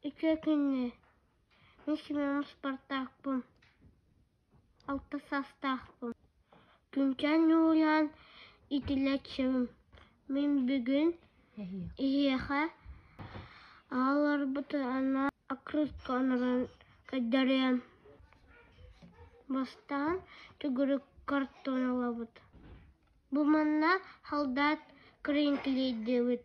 Үтүө күнү! Мин Семен Спартакпын, алта саастаахпын. Күнтэн ньуулаан итилэччим. Мин бүгүн Эһиэхэ аҕаларбыт анна окрутка онорон көрдөрүөм бастаан төгүрүк картон ылабыт бу манна халдаат кринклейдиэбит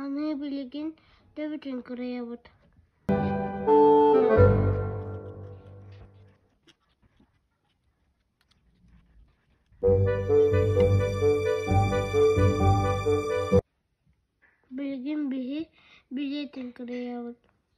аны билигин төбөтүн кырайабыт билигин биһи билиэтин кырайабыт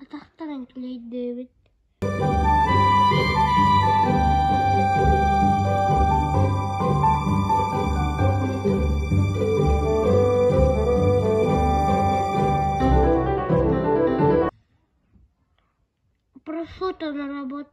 Атахтарын килэйдиибит Просута наработка